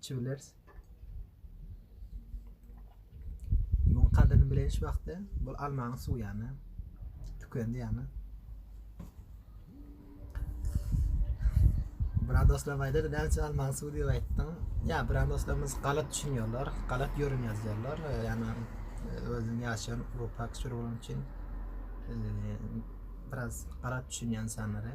Çüwlers. Muň kadyryny bileýiş wagty bul almanyň suwy ýany tükendi ýany. Biran dostlar aýdar, näçe almaň suw diýip aýtdyň. Ýa biran dostlarymyz galat düşünýärler, galat ýörüm ýazýarlar. Ýani özüň ýaşaýan Rupak sür bolan üçin biraz galat düşünýän insanlara.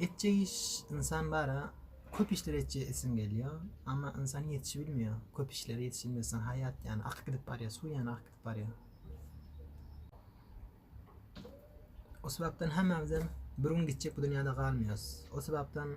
Etjek iş ynsan bara köp işler etjek isim gelýär. Amma ynsan ýetişi bilmeýär. Köp işler ýetişi bilmeseň haýat ýany akyp gidip barýar, suw ýany akyp gidip barýar. O sebäpden hemmämizem bir gün gitjek bu dünýäde galmaýarys. O sebäpden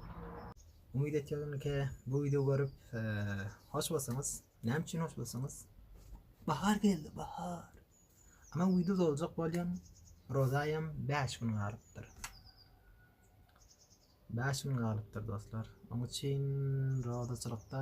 Umyt etýärin ki, bu wideo görüp hoş bolsaňyz. Näme üçin hoş bolsaňyz? Bahar geldi, bahar. Ama wideo doljak bolýan Rozaýam 5 gün galypdyr. 5 gün galypdyr dostlar. Onuň üçin rozaçylykda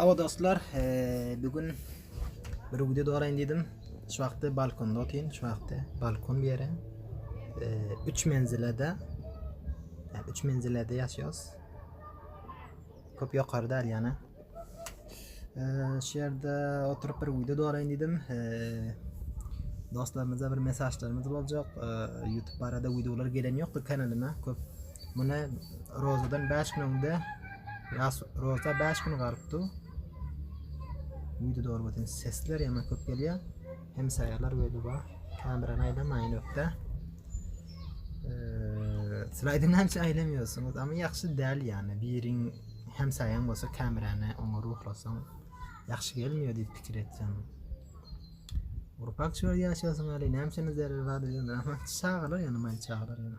Aba dostlar, e, bugün Bir video doraýyn diýdim. Şu wagtda balkonda otyryn. Şu wagtda balkon bir ýere. 3 menzilede. Yani 3 menzilede ýaşaýarys. Köp ýokarda al ýana. Şu ýerde oturyp bir video doraýyn diýdim. Dostlarymyza bir mesajlarymyz boljak. YouTube barada videolar gelen ýokdur kanalyma. Köp Muny rozadan bäş gün öňde, ýas roza bäş gün galypdy. Video dogry bolsun, sesler ýaman köp gelýär. Hemsaýalar böyle bar. Kamerany aýlamaýyn ökde. Slaydy näçe aýlamýorsyňyz, amma ýagşy däl ýany. Biriň hemsaýaň bolsa kamerany oňa ruhlasaň ýagşy gelmiyor diýip pikir etdim. Urpak çöl ýaşasyn ali näme üçin zerre var diýdim. Çagalar ýany maý çagalar ýany.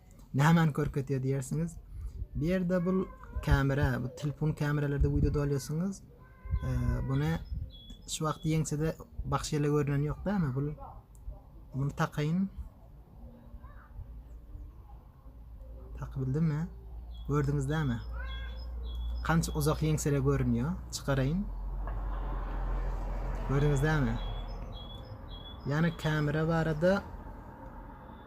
Nämäni görkezýär diýersiňiz? Bu ýerde bu kamera, bu telefon kameralerde wideo dolýarsyňyz. Buna şu wagt ýeňsede bagşy ýele görünen ýok dämi? Bu bunu takaýyn. Takyp bildimmi? Gördüňiz dämi? Kança uzak ýeňsede görünýär. Çykaraýyn. Gördüňiz dämi? Ýani kamera barada